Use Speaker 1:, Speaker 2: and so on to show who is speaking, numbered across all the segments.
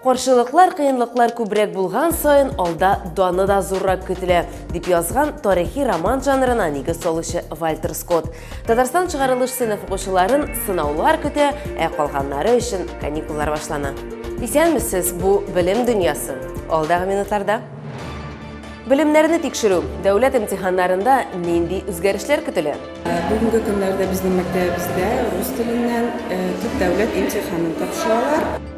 Speaker 1: Каршылыклар, кыенлыклар күбрәк булган саен алда даны да зуррак көтелә, дип язган тарихи роман жанрына нигез салучы Вальтер Скотт. Татарстан чыгарылыш сыйныф укучыларын сынаулар көтә, ә калганнары өчен каникуллар башлана. Исәнмесез, бу белем дөньясы. Алдагы минутларда Белемнәрне тикшерү дәүләт имтиханнарында нинди үзгәрешләр көтелә? Э, бүгенге көннәрдә
Speaker 2: безнең мәктәбебездә рус теленнән э, төп дәүләт имтиханын тапшыралар.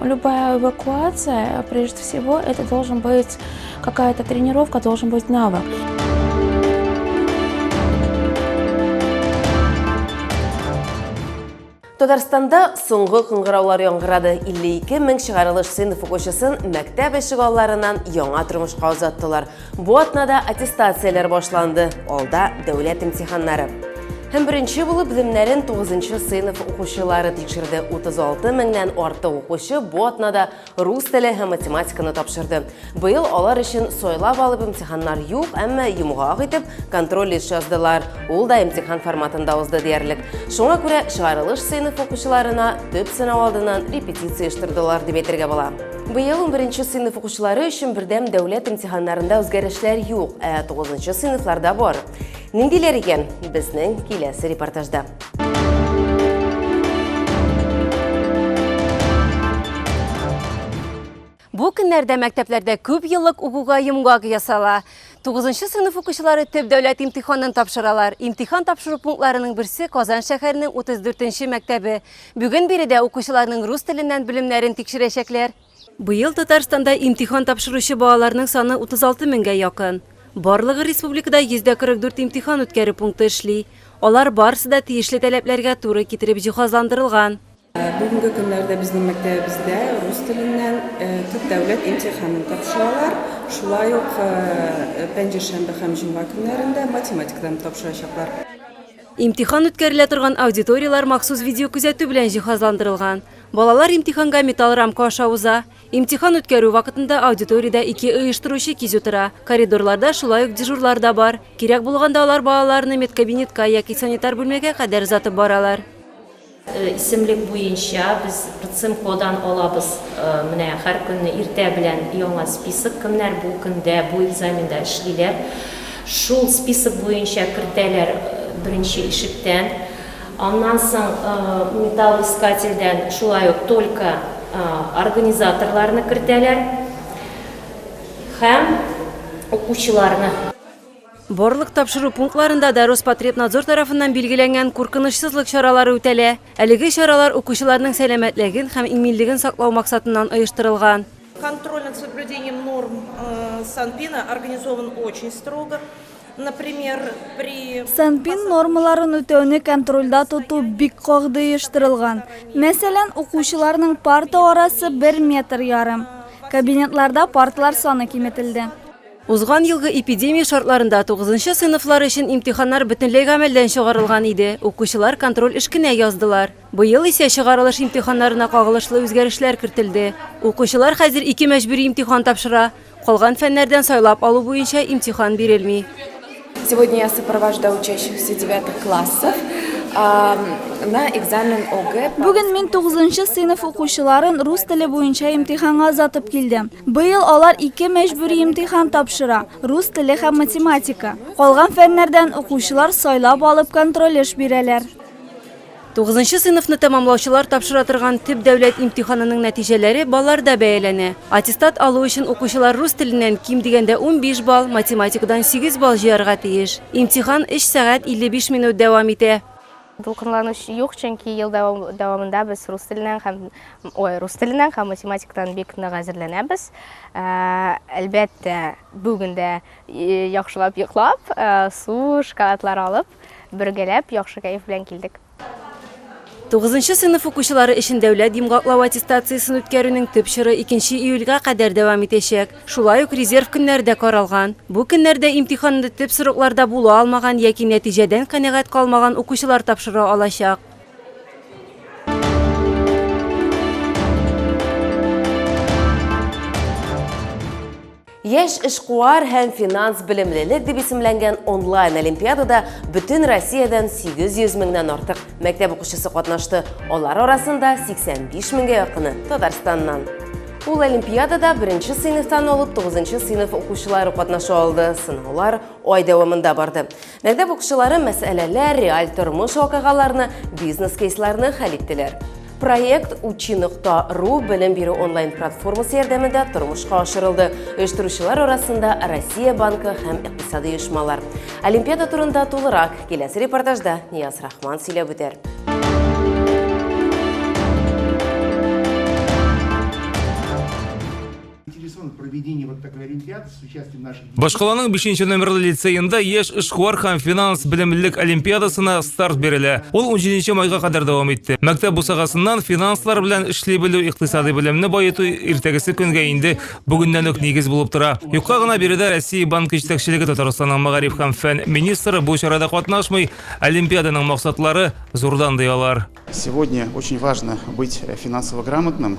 Speaker 1: Любая
Speaker 3: эвакуация, прежде всего, это должен быть какая-то тренировка, должен быть навык.
Speaker 1: Татарстанда соңгы кыңгыраулар яңгырады. 52 мең чыгарылыш сыйныф укучысын мәктәп ишек алларынан яңа тормышка озаттылар. Бу атнада аттестацияләр башланды, алда дәүләт имтиханнары. Һәм беренче булып земнәрен 9 сыйныф укучылары тикшерде. 36 меңнән артык укучы бу атнада рус теле һәм математиканы тапшырды. Быел алар өчен сайлап алып имтиханнар юк, әмма йомгак итеп контроль лист яздылар. Ул да имтихан форматында узды диярлек. Шуңа күрә чыгарылыш сыйныф укучыларына төп сынау алдыннан репетиция оештырдылар дип әйтергә була. Быел унберенче сыйныф укучылары өчен бердәм дәүләт имтиханнарында үзгәрешләр юк, ә тугызынчы сыйныфларда бар. Ниндиләр икән? Безнең киләсе репортажда. Бу көннәрдә мәктәпләрдә күп еллык укуга йомгак ясала. 9 сыйныф укучылары төп дәүләт имтиханын тапшыралар. Имтихан тапшыру пунктларының берсе Казан шәһәренең 34 нче мәктәбе. Бүген биредә укучыларның рус теленнән белемнәрен тикшерәчәкләр. Быел Татарстанда имтихан тапшыручы балаларның саны 36 меңгә якын. Барлыгы республикада 144 имтихан үткәрү пункты эшли. Алар барысы да тиешле таләпләргә туры китереп җиһазландырылган. Бүгенге
Speaker 2: көннәрдә безнең мәктәбебездә рус теленнән төп дәүләт имтиханын тапшыралар. Шулай ук пәнҗешәмбе һәм җомга көннәрендә математикадан тапшырачаклар. Имтихан
Speaker 1: үткәрелә торган аудиторияләр махсус видеокүзәтү белән җиһазландырылган. Балалар имтиханга металл рамка аша уза. Имтихан үткәрү вакытында аудиториядә ике оештыручы кизү тора. Коридорларда шулай ук дежурлар да бар. Кирәк булганда алар балаларны медкабинетка яки санитар бүлмәгә кадәр озатып баралар.
Speaker 4: Исемлек буенча без РЦИМКОдан алабыз менә һәр көнне иртә белән яңа список, кемнәр бу көндә, бу экзаменда эшлиләр. Шул список буенча кертәләр беренче ишектән. Аннан соң металлоискательдән шулай ук только организаторларны кертәләр һәм укучыларны.
Speaker 1: Барлык тапшыру пунктларында да Роспотребнадзор тарафыннан билгеләнгән куркынычсызлык чаралары үтәлә. Әлеге чаралар укучыларның сәламәтлеген һәм иминлеген саклау максатыннан оештырылган. Контроль над
Speaker 5: соблюдением норм Санпина организован очень строго. Например, при. Санпин нормаларын
Speaker 6: үтәүне контрольдә тоту бик кагды оештырылган. Мәсәлән, укучыларның парта арасы бер метр ярым. Кабинетларда парталар саны киметелде. Узган елгы
Speaker 1: эпидемия шартларында тугызынчы сыйныфлар өчен имтиханнар бөтенләй гамәлдән чыгарылган иде, укучылар контроль эшкенә яздылар. Быел исә чыгарылыш имтиханнарына кагылышлы үзгәрешләр кертелде. Укучылар хәзер ике мәҗбүри имтихан тапшыра, калган фәннәрдән сайлап алу буенча имтихан бирелми. Сегодня я
Speaker 7: сопровождаю учащихся девятых классов на экзамен ОГЭ. Бүген мин 9нчы
Speaker 6: сыйныф укучыларын рус теле буенча имтиханга озатып килдем. Быел алар ике мәҗбүри имтихан тапшыра, рус теле һәм математика. Калган фәннәрдән укучылар сайлап алып контроль эш бирәләр.
Speaker 1: Тугызынчы сыйныфны тәмамлаучылар тапшыра торган төп дәүләт имтиханының нәтиҗәләре балларда бәяләнә. Аттестат алу өчен укучылар рус теленнән ким дигәндә унбиш балл, математикадан сигез балл җыярга тиеш. Имтихан өч сәгать илле биш минут дәвам итә. Дулкынлану
Speaker 8: юк, чөнки ел дәвамында без рус теленнән һәм, ой, рус теленнән һәм математикадан бик нык әзерләнәбез. Әлбәттә, бүген дә яхшылап йоклап, су, шоколадлар алып, Бергәләп яхшы кәеф белән килдек.
Speaker 1: Тугызынчы сыйныф укучылары өчен дәүләт йомгаклау аттестациясен үткәрүнең төп чоры икенче июльгә кадәр дәвам итәчәк. Шулай ук резерв көннәре дә каралган. Бу көннәрдә имтиханны төп срокларда була алмаган яки нәтиҗәдән канәгать калмаган укучылар тапшыра алачак. Яшь эшкуар һәм финанс белемлелек дип исемләнгән онлайн олимпиадада бөтен Россиядән 800 меңнән артык мәктәп укучысы катнашты. Алар арасында 85 меңгә якыны Татарстаннан. Ул олимпиадада беренче сыйныфтан алып 9 сыйныф укучылары катнаша алды. Сынаулар ай дәвамында барды. Мәктәп укучылары мәсьәләләр, реаль тормыш вакыйгаларны, бизнес-кейсларны хәл иттеләр. Проект Учи нокта ру белем бирү онлайн-платформасы ярдәмендә тормышка ашырылды. Оештыручылар арасында Россия банкы һәм икътисади оешмалар. Олимпиада турында тулырак киләсе репортажда Нияз Рахман сөйләп үтәр.
Speaker 9: Башкаланың 5 номерлы лицеенда яшь эшкуар һәм финанс белемлелек олимпиадасына старт бирелә. Ул 17 майга кадәр дәвам итте. Мәктәп бусагасыннан финанслар белән эшли белү, икътисади белемне баету иртәгесе көнгә инде бүгеннән үк нигез булып тора. Юкка гына биредә Россия банк җитәкчелеге Татарстанның мәгариф һәм фән министры бу чарада катнашмый, олимпиаданың максатлары зурдан ди алар. Сегодня очень
Speaker 10: важно быть э, финансово грамотным,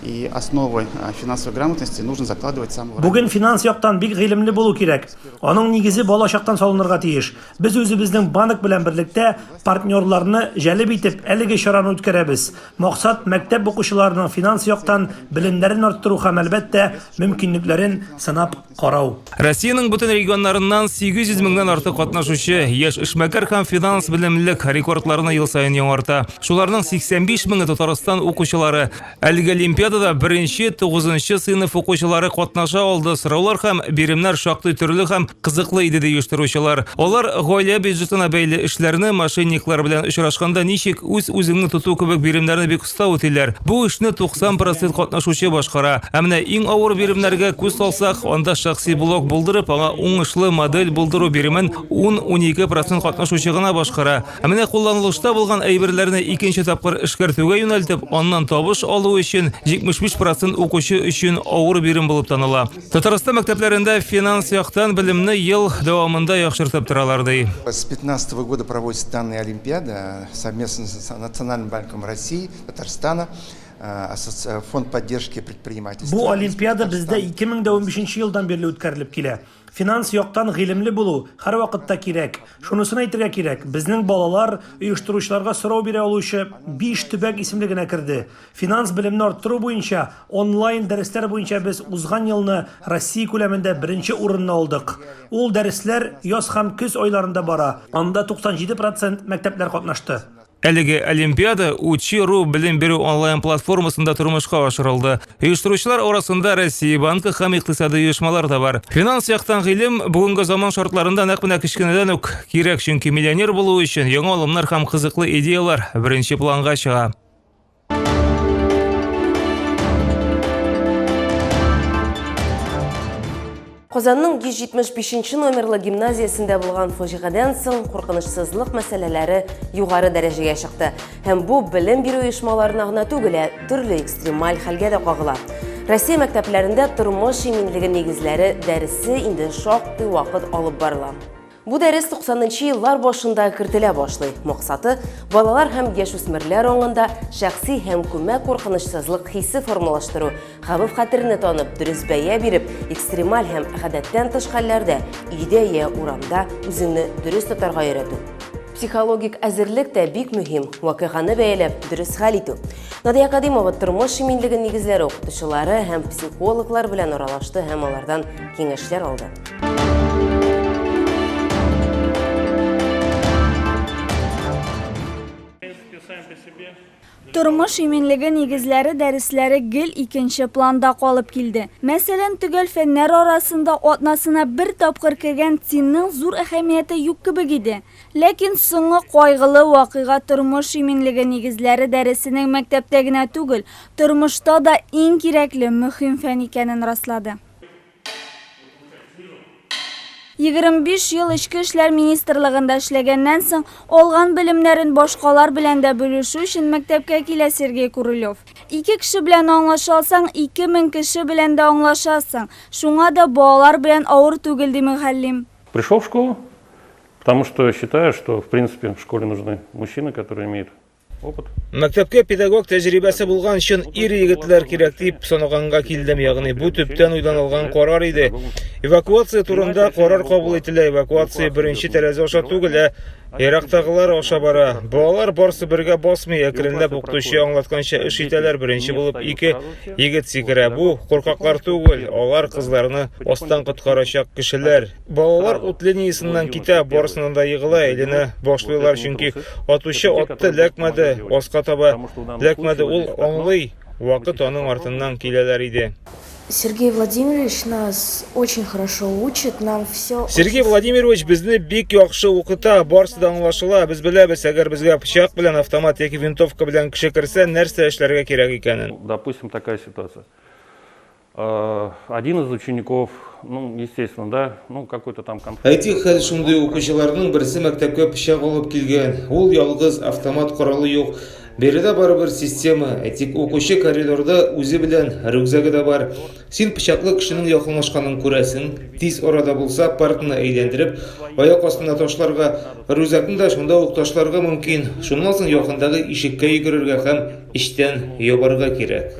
Speaker 10: и основы э, финансовой грамотности нужно закладывать с самого Бүген финанс яктан
Speaker 11: бик гыйлемле булу кирәк. Аның нигезе балачактан салынырга тиеш. Без үзебезнең банк белән берлектә партнерларны җәлеп итеп әлеге чараны үткәрәбез. Максат мәктәп укучыларының финанс яктан белемнәрен арттыру һәм әлбәттә мөмкинлекләрен сынап карау. Россиянең бөтен
Speaker 9: регионнарыннан 800 меңнән артык катнашучы, яшь эшмәкәр һәм финанс белемлек рекордларны ел саен яңарта. Шуларның 85 меңе Татарстан укучылары. Әлеге олимпиадада беренче, тугызынчы сыйныф укучылары катнаша алды. Сораулар һәм биремнәр шактый төрле һәм кызыклы иде, ди оештыручылар. Алар гаилә бюджетына бәйле эшләрне, мошенниклар белән очрашканда ничек үз-үзеңне тоту кебек биремнәрне бик Кыска үтиләр. Бу эшне 90 процент катнашучы башкара. Ә менә иң авыр биремнәргә күз салсак, анда шәхси блог булдырып, аңа уңышлы модель булдыру биремен 10-12 процент катнашучы гына башкара. Ә менә кулланылышта булган әйберләрне икенче тапкыр эшкәртүгә юнәлтеп, аннан табыш алу өчен 75 процент укучы өчен авыр бирем булып таныла. Татарстан мәктәпләрендә финанс яктан белемне ел дәвамында яхшыртып торалар, ди. С 15
Speaker 12: года проводится данная олимпиада. совместно с Национальным банком России, Татарстана, э, фонд поддержки предпринимательства. Бу олимпиада бездә
Speaker 11: 2015 елдан бирле үткәрелеп килә. Финанс яктан гыйлемле булу һәрвакытта кирәк. Шунысын әйтергә кирәк, безнең балалар оештыручыларга сорау бирә алучы биш төбәк исемлегенә керде. Финанс белемне арттыру буенча онлайн дәресләр буенча без узган елны Россия күләмендә беренче урынны алдык. Ул дәресләр яз һәм көз айларында бара, анда 97 процент мәктәпләр катнашты. Әлеге
Speaker 9: олимпиада Учи.ру белем бирү онлайн платформасында тормышка ашырылды. Оештыручылар арасында Россия банкы һәм икътисади оешмалар да бар. Финанс яктан гыйлем бүгенге заман шартларында нәкъ менә кечкенәдән үк кирәк, чөнки миллионер булу өчен яңа алымнар һәм кызыклы идеяләр беренче планга чыга.
Speaker 1: Казанның 175 номерлы гимназиясендә булган фаҗигадан соң куркынычсызлык мәсьәләләре югары дәрәҗәгә чыкты. Һәм бу белем бирү оешмаларына гына түгел, ә төрле экстремаль хәлгә дә кагыла. Россия мәктәпләрендә тормыш иминлеге нигезләре дәресе инде шактый вакыт алып барыла. Бу дәрес 90 нчы еллар башында кертелә башлый. Максаты, балалар һәм яшүсмерләр аңында шәхси һәм күмәк куркынычсызлык хисе формалаштыру, хәвеф хәтерне танып, дөрес бәя биреп, экстремаль һәм гадәттән тыш хәлләрдә, өйдә я урамда үзеңне дөрес тотарга өйрәтү. Психологик әзерлек тә бик мөһим, вакыйганы бәяләп, дөрес хәл итү. Надия Кадимова тормыш иминлеге нигезләре укытучылары һәм психологлар белән аралашты һәм алардан киңәшләр алды.
Speaker 6: Тормыш иминлеге нигезләре дәресләре гел икенче планда калып килде. Мәсәлән, төгәл фәннәр арасында атнасына бер тапкыр кергән ЦИНның зур әһәмияте юк кебек иде. Ләкин соңгы кайгылы вакыйга тормыш иминлеге нигезләре дәресенең мәктәптә генә түгел, тормышта да иң кирәкле, мөһим фән икәнен раслады. 25 ел Эчке эшләр министрлыгында эшләгәннән соң, алган белемнәрен башкалар белән дә бүлешү өчен мәктәпкә килә Сергей Курылев. Ике кеше белән аңлаша алсаң, 2000 кеше белән дә аңлашасың. Шуңа да балалар белән авыр түгел, ди мөгаллим. Пришел в школу,
Speaker 13: потому что считаю, что в принципе в школе нужны мужчины, которые имеют опыт. Мәктәпкә
Speaker 9: педагог тәҗрибәсе булган чын ир егетләр кирәк дип санаганга килдем, ягъни бу төптән уйланылган карар иде. Эвакуация турында карар кабул ителә, эвакуация беренче тәрәзә аша түгел, ә ерактагылар аша бара. Балалар барсы бергә басмый, әкренләп укытучы аңлатканча эш итәләр, беренче булып ике егет сикерә. Бу куркаклар түгел, алар кызларны астан коткарачак кешеләр. Балалар ут линиясеннән китә, барысыннан да егыла, әйләнә башлыйлар, чөнки атучы атты ләкмәде, аска таба ләкмәде, ул аңлый, вакыт аның артыннан киләләр иде. Сергей
Speaker 14: Владимирович нас очень хорошо учит, нам все... Сергей Владимирович
Speaker 9: безне бик яхшы укыта, барсы да аңлашыла, без беләбез, әгәр безгә пычак белән, автомат яки винтовка белән кеше керсә, нәрсә эшләргә кирәк икәнен. Допустим, такая ситуация.
Speaker 13: Один из учеников, ну, естественно, да, ну, какой-то там конфликт. Әйтик, хәл шундый,
Speaker 9: укучыларның берсе мәктәпкә пычак алып килгән. Ул ялгыз, автомат коралы юк. Биредә барыбер система. Әйтик, укучы коридорда үзе белән рюкзагы да бар. Син пычаклы кешенең якынлашканын күрәсең. Тиз арада булса, партны әйләндереп, аяк астына ташларга, рюкзакны да шунда ук ташларга мөмкин. Шуннан соң якындагы ишеккә йөгерергә һәм эчтән ябарга кирәк.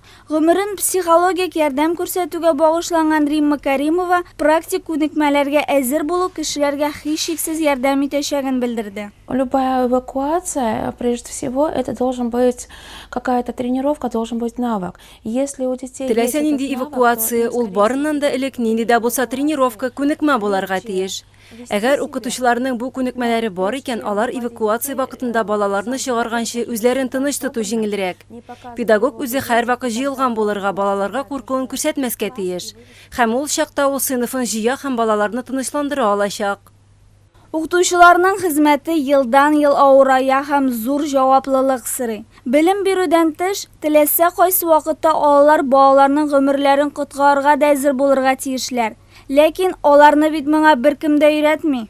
Speaker 6: Гомерен психологик ярдәм күрсәтүгә багышланган Римма Кәримова практик күнекмәләргә әзер булу кешеләргә һичшиксез ярдәм итәчәген белдерде. Любая
Speaker 3: эвакуация, прежде всего, это должен быть какая-то тренировка, должен быть навык. Если у детей есть этот навык, то им с таким успехом справляются. Теләсә нинди эвакуация,
Speaker 15: ул барыннан да элек нинди дә булса тренировка, күнекмә буларга тиеш. Әгәр укытучыларның бу күнекмәләре бар икән, алар эвакуация вакытында балаларны чыгарганчы үзләрен тыныч тоту җиңелрәк. Педагог үзе һәрвакыт җыелган булырга, балаларга куркуын күрсәтмәскә тиеш. Һәм ул чакта ул сыйныфын җыя һәм балаларны тынычландыра алачак. Укытучыларның
Speaker 6: хезмәте елдан-ел авырая һәм зур җаваплылык сорый. Белем бирүдән тыш, теләсә кайсы вакытта алар балаларның гомерләрен коткарырга да әзер булырга тиешләр. Ләкин аларны бит моңа беркем дә өйрәтми.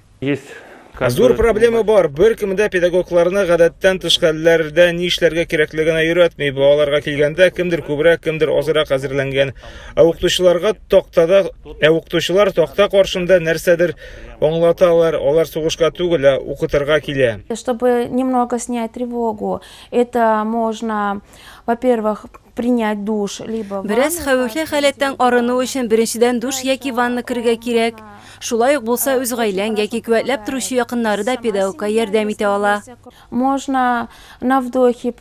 Speaker 6: Зур
Speaker 9: проблема бар, беркем дә педагогларны гадәттән тыш хәлләрдә ни эшләргә кирәклегенә өйрәтми. Балаларга килгәндә, кемдер күбрәк, кемдер азрак әзерләнгән. Ә укытучыларга тактада, ә укытучылар такта каршында нәрсәдер аңлаталар, алар сугышка түгел, ә укытырга килә. Чтобы немного
Speaker 3: снять тревогу, это можно, во-первых, принять душ, либо Бераз хәвефле
Speaker 15: халәттән арыну өчен беренчедән душ яки ванна керергә кирәк. Шулай ук булса үз гаиләң яки куәтләп торучы якыннары да педагогка ярдәм итә ала. Можно
Speaker 3: на вдохе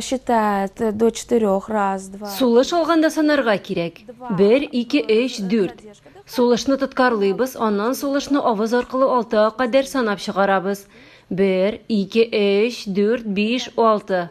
Speaker 3: считать до четырех раз, два. Сулыш алганда санарга
Speaker 15: кирәк. Бер, ике, өч, дүрт. Сулышны тоткарлыйбыз, аннан сулышны авыз аркылы алтыга кадәр санап чыгарабыз. Бер, ике, өч, дүрт, биш, алты.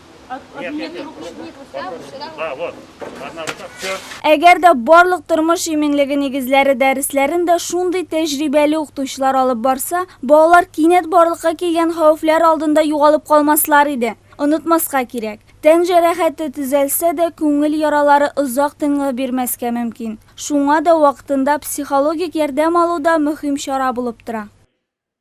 Speaker 11: Әгәр дә барлык
Speaker 6: тормыш иминлеге нигезләре дәресләрен дә шундый тәҗрибәле укытучылар алып барса, балалар кинәт барлыкка килгән хәвефләр алдында югалып калмаслар иде. Онытмаска кирәк, тән җәрәхәте төзәлсә дә, күңел яралары озак тынгы бирмәскә мөмкин. Шуңа да вакытында психологик ярдәм алу да мөһим чара булып тора.